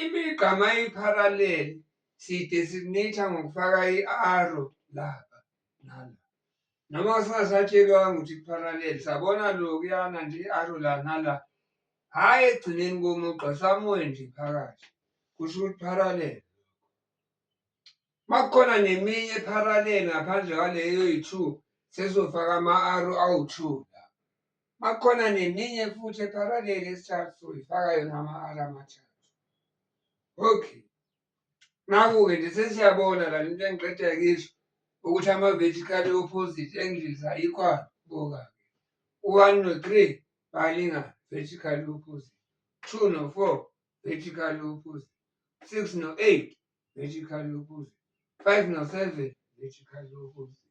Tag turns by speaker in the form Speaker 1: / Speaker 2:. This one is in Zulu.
Speaker 1: Imigqa mayipharaleli siyidesignator ngokufaka i-arrow lapha nala. Noma singasatshelwanga ukuthi ipharaleli sabona lokuyana nje i-arrow la nala. Hhayi ekugcineni komugqa samoye nje phakathi kusho ukuthi pharaleli. Makukhona neminye epharaleli ngaphandle kwaleyo eyi-two sesizofaka ama-arrow awu-two. Makhona neminye futhi eparaleli esithathu soyifaka yona ama-ara amathathu. Okay. Naku-ke nje sesiyabona la into engiqeda kisho ukuthi ama-vertical opposite angles ayikho buka u-one no-three balinga vertical opposite two no-four vertical opposite six no-eight vertical opposite five no-seven vertical opposite